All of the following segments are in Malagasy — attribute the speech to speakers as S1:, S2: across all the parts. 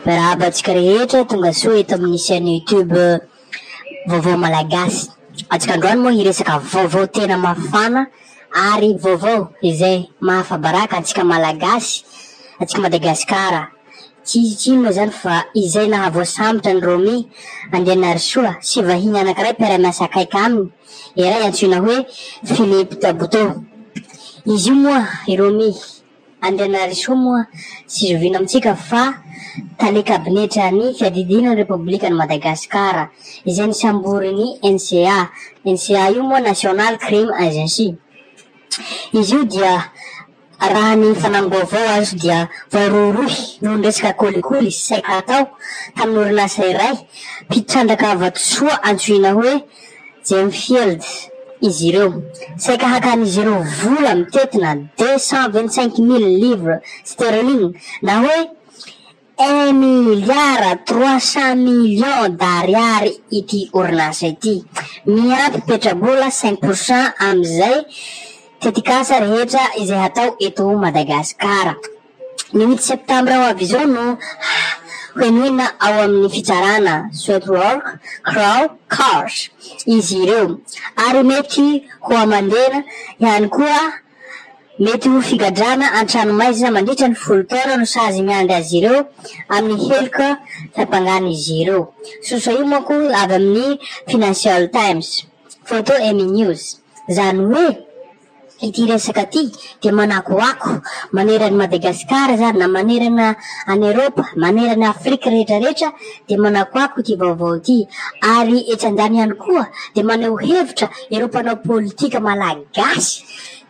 S1: Miarahaba antsika rehetra tongasoa eto amin'ny chaîne YouTube Vaovao Malagasy. Antsika androany moa hiresaka vaovao tena mafana ary vaovao izay mahafabaraka antsika Malagasy, antsika Madagasikara. Tsy tsy inona izany fa izay nahavoasambotra an'i Romy Andrianarisoa sy vahiny anankiray mpiara-miasa akaiky aminy. iray antsoina hoe Philippe Tabuteau. Izy io moa, i Romy Andrianarisoa moa tsy zoviana amintsika fa tale kabinetra ny fiadidiana ny Repoblikan'i Madagasikara, izay nisamborin'ny NCA. NCA io moa National Crime Agency. Izy io dia. Raha ny fanamim-baovao azo dia voarohirohy noho ny resaka kolikoly sy saika hatao tamin'ny orinasa iray mpitrandraka avy vatosoa antsoina hoe Gemfield izy ireo. Saika hakan'izy ireo vola mitetina deux cent vingt-cinq mille livres sterling na hoe Un milliard trois cent millions d'ariary ity orinasa ity. Miampy petrabola cinq pour cent amin'izay tetikasa rehetra izay hatao eto Madagasikara. Ny huit septembre ho avy izao no henoina ao amin'ny fitsarana Sweatwork, Crow, Cars izy ireo ary mety ho aman-dena ihany koa. Mety ho figadrana an-tranomaizina mandritra ny folo taona no sazy miandry azy ireo amin'ny heloka fiampangan'izy ireo. Sosoa io manko avy amin'ny Financial Times, Photo Amy News. Izany hoe ity resaka ity dia manakoako manerana an'i Madagasikara izany na manerana an'i Eropa, manerana an'i Afrika rehetra rehetra dia manakoako ity vaovao ity ary etsy andaniny ihany koa dia maneho hevitra ireo mpanao politika malagasy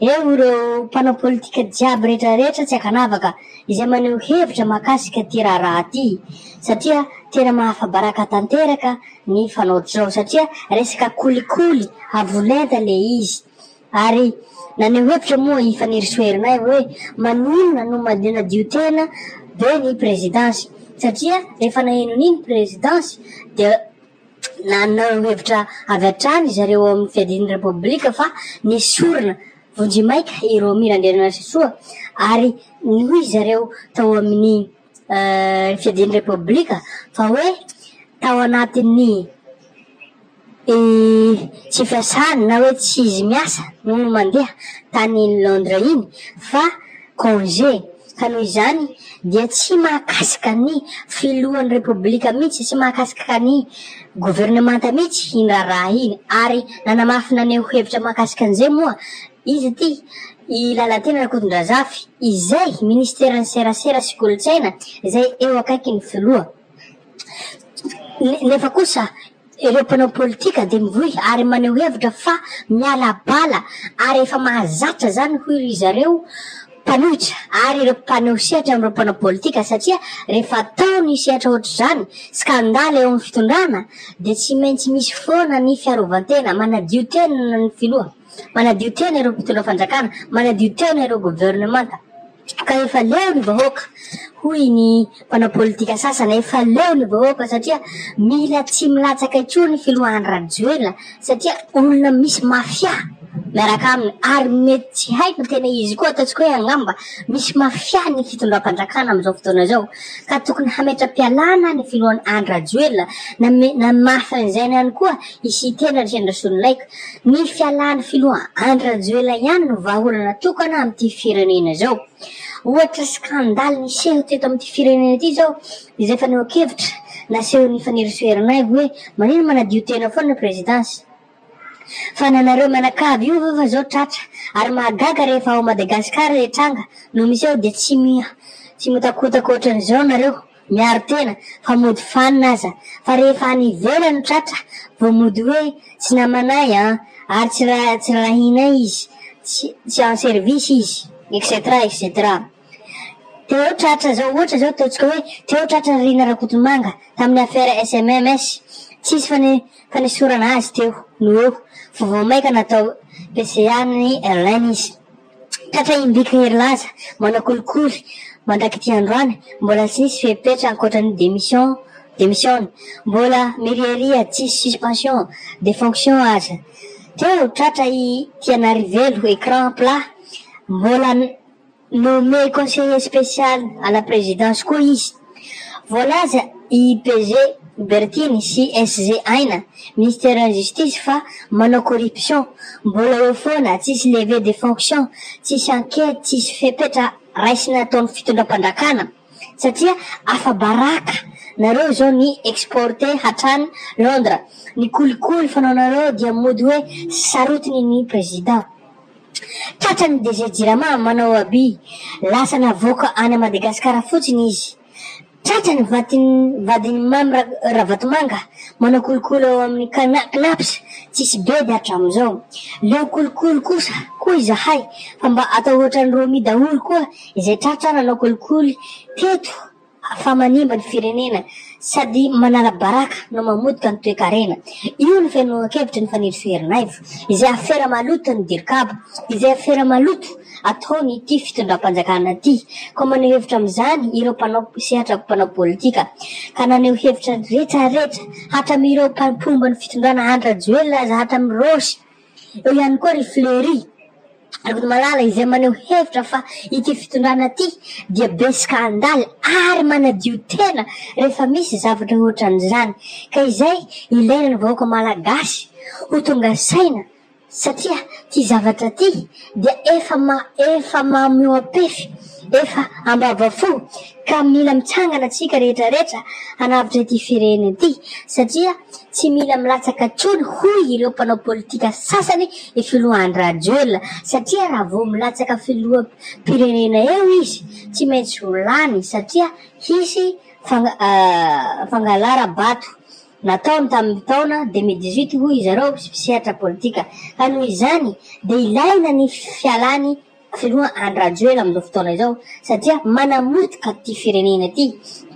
S1: Eo ireo mpanao politika jiaby rehetra rehetra tsy ankanavaka izay maneho hevitra mahakasika ity raharaha ity satria tena mahafabaraka tanteraka ny fanaoty zao satria resaka kolikoly avo lenta le izy ary naneho hevitra moa i Fanirisoa Herinay hoe maninona no manadio tena be ny prezidansy satria rehefa naheno an'iny prezidansy dia Nanao hevitra avy hatrany zareo ao amin'ny Fiadian'ny Repoblika fa nesorina vonjimaika i Romy Randrianarisoa ary hoy zareo tao amin'ny Fiadian'ny Repoblika fa hoe tao anatin'ny tsy fiasany na hoe tsy izy miasa no mandeha tany Londres iny fa Congé, ka noho izany dia tsy mahakasika ny filohan'ny Repoblika mihitsy, tsy mahakasika ny governemanta mihitsy iny raharaha iny, ary nanamafy naneho hevitra mahakasika an'izay moa izy ity i Lalatiana Rakotondrazafy izay minisiteran'ny Serasera sy Kolontsaina izay eo akaikin'ny filoha nefa kosa Ireo mpanao politika dia mivoy ary maneho hevitra fa miala bala ary efa mahazatra izany hoy ry zareo mpanohitra ary ireo mpaneho sehatra amin'ireo mpanao politika satria rehefa atao ny sehatra ohatr'izany, skandaly eo amin'ny fitondrana, dia tsy maintsy misy foana ny fiarovan-tena. Manadio tena ny filoha, manadio tena ireo mpitondra fanjakana, manadio tena ireo governemanta. Ka efa leo ny vahoaka, hoy ny mpanao politika sasany, efa leo ny vahoaka satria mila tsy milatsaka intsony ny filohan'ny Rajoelina satria olona misy mafia miaraka aminy ary mety tsy haiko ny tena izy koa ataontsika hoe angamba misy mafia ny fitondram-panjakana amin'izao fotoana izao ka tokony hametra-pialana ny filohan'ny Andry Rajoelina na, na mafy an'izany ihany koa Hisy tena ny Sendra-Solonaiky. Ny fialan'ny filoha Andry Rajoelina ihany no vahaolana tokana amin'ity firenena izao. Ohatra skandaly niseho teto amin'ity firenena ity izao izay fanehoan-kevitra nasehon'i Fanirisoa Ernaivo hoe manino manadio tena foana ny Prezidansy. Fa na nareo mianakavy io ve fa izao tratra ary mahagaga rehefa ao Madagasikara ilay tranga no miseho dia tsy miha tsy mihotakotaka ohatran'izao nareo. Miaro tena fa mody fanina aza fa rehefa any ivelany tratra vao mody hoe tsy namanay an, ary tsy ra tsy rarahinay izy, tsy tsy en service izy etc etc. Téo tratra zao ohatra zao ataontsika hoe Téo tratra ry Rina Rakotomanga tamin'ny affaire SMMS tsisy fane fanesorana azy Téo no eo fa vao maika natao PCA ny Line izy. Tratra im-biky hery laza, manao kolikoly, mandrak'ity androany, mbola tsy nisy fepetra ankoatra ny démission, demisiona, mbola miriaria tsisy suspension de fonction aza. Teo tratra i Tianarivelo, écran plat, mbola nommé conseiller spécial à la présidence koa izy. Voalaza i PG Bertiny sy SG Aina, Ministeran'ny Justice, fa manao corruption, mbola eo foana, tsisy levée de fonction, tsisy enquête, tsisy fepetra raisina ataon'ny fitondram-pandrakana, satria afa-baraka nareo izao ny exporter hatrany Londres ny kolikoly fanaonareo dia mody hoe sarotiny ny Président. Tratran'ny DG Jirama manao abus, lasa navoaka any Madagasikara fotsiny izy. Tratra ny vadin'ny vadin'i Mamy Ravatomanga manao kolikoly ao amin'ny Cnaps tsisy bedy hatramin'izao. Leo kolikoly kosa koa izahay fa mba atao ohatran'i Romy daholo koa izay tratra nanao kolikoly teto. fa manimba ny firenena sady manara-baraka no mamotika ny toekarena. Io no fihainoankevitry ny Fanirisoa Ernaivo, izay afera maloto ny Dircab, izay afera maloto ataon' ity fitondram-panjakana ity. Koa maneho hevitra amin'izany ireo mpanao sehatra mpanao politika, ka naneho hevitra retraretra, hatramin'ireo mpomba ny fitondrana Andry Rajoelina aza, hatramin'i Rossy, Eo ihany koa ry Fleury Ravolomalala izay maneho hevitra fa ity fitondrana ity dia besoka handalo ary manadio tena rehefa misy zavatra ohatran'izany ka izay ilaina ny vahoaka malagasy ho tonga saina satria ity zavatra ity dia efa ma efa mamo eo ampefy, efa ambavafo ka mila mitsangana tsika rehetra rehetra hanavotra ity firenena ity satria tsy mila milatsaka tsony hoy ireo mpanao politika sasany i filoha Andry Rajoelina satria raha vao milatsaka filoha mpirenena eo izy tsy maintsy ho lany satria hisy fang, uh, fangalaram-bato nataony tamin'ny taona deux mille dix huit hoy izareo sy mpisehatra politika ka noho izany dia ilaina ny fialany filoha Andry Rajoela amin'izao fotoana izao satria manamotika ity firenena ity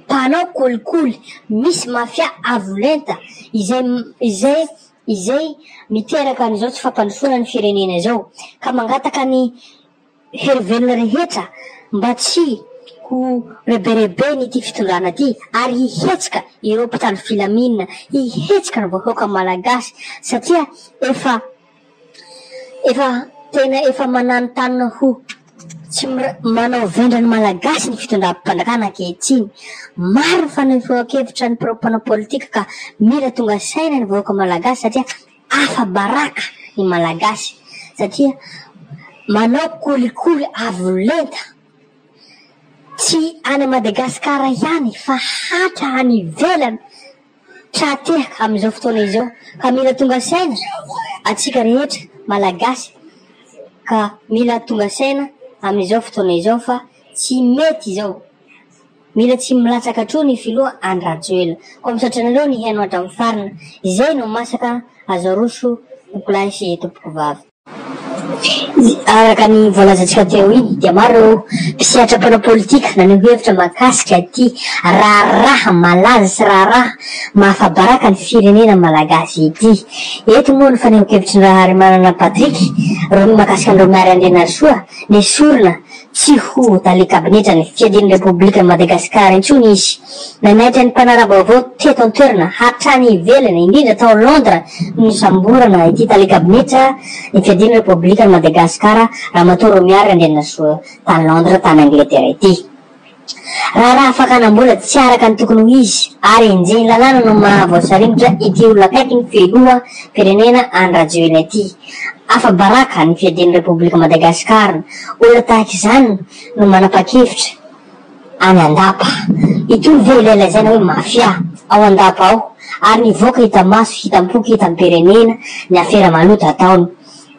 S1: mpanao kolikoly misy mafia avo lenta izay izay izay miteraka an'izao tsy fampandrosoana ny firenena izao ka mangataka ny Heverina rehetra mba tsy ho rebereben'ity fitondrana ity ary hihetsika ireo mpitandro filaminana, hihetsika ny vahoaka malagasy satria efa efa tena efa mananontanona ho tsy manao vendrany malagasy ny fitondram-panjakana ankehitriny. Maro ny fanehoankevitra ny mpanao politika ka mila tonga saina ny vahoaka malagasy satria. Afa-baraka ny Malagasy satria manao kolikoly avo lenta, tsy any Madagasikara ihany fa hatra any ivelany tra-tehaka amin'izao fotoana izao ka mila tonga saina antsika rehetra Malagasy ka mila tonga saina amin'izao fotoana izao fa tsy mety izao. Mila tsy milatsaka atro ny filoha Andry Rajoelina koa misaotra anareo nihaino hatramin'ny farany izay no masaka azo aroso tompolahy sy tompokovavy. Araka ny voalazantsika teo iny dia maro ireo mpisehatra mpanao politika naneho hevitra mahakasika ity raharaha malaza sy raharaha mahafabaraka ny firenena malagasy ity. Eto moa ny fanehonkevitry ny Raharimanana Patrick Romy mahakasika an'ireo miary Andrianarisoa nesorina Tsy ho tale kabinetra ny fiadian'ny Repoblikan'i Madagasikara intsony izy. Nanaitra ny mpanara-baovao teto an-toerana hatrany ivelany, indrindra tao Londres, ny nisamborana ity tale kabinetra ny fiadian'ny Repoblikan'i Madagasikara, Ramatoa Romiary Randrianasoa, tany Londres, tany Angletera ity. Raharaha fakana mbola tsy araka ny tokony ho izy ary enjehin'ny lalàna no maha voasaringotra ity olona akaiky ny filoha mpirenena Andry Rajoelina ity. Afa-baraka ny fiadian'ny Repoblika Madagasikara. Olona tahaka izany no manapa-kevitra any Andapa. Itoy ve ilay lazaina hoe mafia ao Andapa ao ary nivoaka hita maso, hitam-poko, hitam-pirenena ny afera maloto ataony.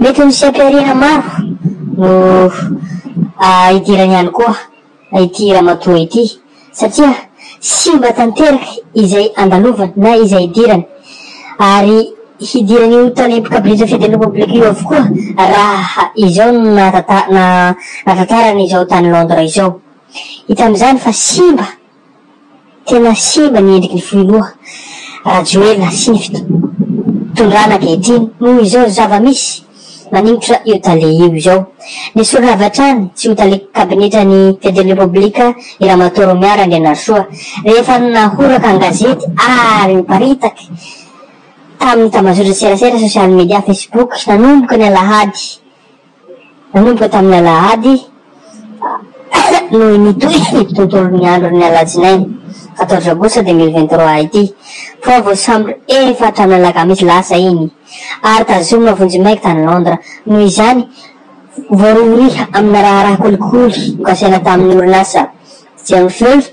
S1: Mety misy anteharena maro no hidirany ihany koa ity ramatoa ity satria simba tanteraka izay andalovany na izay hidirany ary hidiran'io tany mpikabiriza fiadiana poblika io avokoa raha izao no nahatantarany izao tany Londres izao. Hita amin'izany fa simba. Tena simba ny endriky ny foiloha rajoelina sivito tondrana ankehitriny noho izao zava misy maningotra io tale io izao nesorina avy hatrany tsy ho tale kabinetra ny presideny repoblika i ramatoa romiary andrianarisoa rehefa nahoraka an gazety ary niparitaky taminy tamazotra serasera sosialy media facebook nanomboka ny alahady Nanomboka tamin'ny alahady no nitohy ny tontolon'ny andron'ny alatsinainy quatorze aogositra deux mille vingt trois ity fa vao sambo efatra amin'ny alakamisy lasa iny ary tazomina vonjimaika tany Londres noho izany voarohirohy amina raharaha kolikoly nokasaina tamin'ny orinasa Gemfields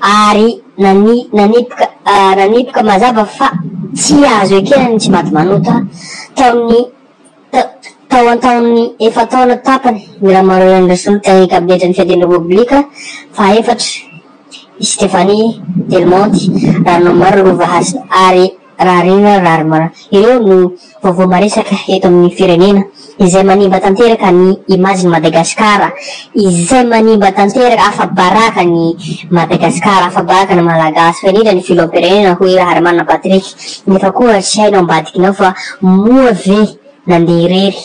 S1: ary nanipika mazava fa tsy azo ekena ny tsimatimanota tao an-taon'ny efa-taona tapany ny Ramaroanan'ny Resoluta ny kabinetran'ny Fiadiana Repoblika faha-efatra, i Stephanie Delmonte, raha ny omaly Rova Hasina, ary. Raharina Rarma, ireo no vaovao maresaka eto amin'ny firenena, izay manimba tanteraka ny imajin'i Madagasikara, izay manimba tanteraka, afa-baraka an'i Madagasikara, afa-baraka ny Malagasy, fa indrindra ny Filoham-pirenena, hoy Raharimana Patrick, nefa koa tsy hainao ambadikinao fa moa ve nandeha irery?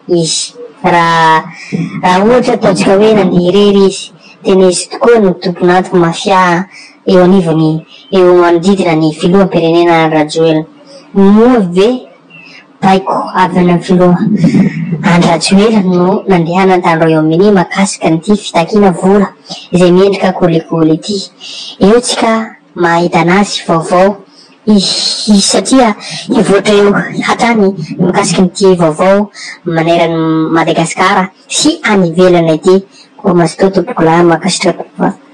S1: izy. Raha raha ohatra ataontsika hoe nandeha irery izy dia nisy tokoa ny tompon'antoky mafia eo anivon'ny eo manodidina ny filoham-pirenena Andry Rajoelina. Moa ve baiko avy any amin'ny filoha Andry Rajoelina no nandehanany tany Royaume-Uni mahakasika an'ity fitakiana vola izay mendrika kolikoly ity? Eo tsika mahita anazy vaovao. Hihihi satria hivoatra eo hatrany ny mikasika an'ity vaovao maneran'i Madagasikara sy any ivelany ity. Koa mazotoa tompokolahy mankasitraka.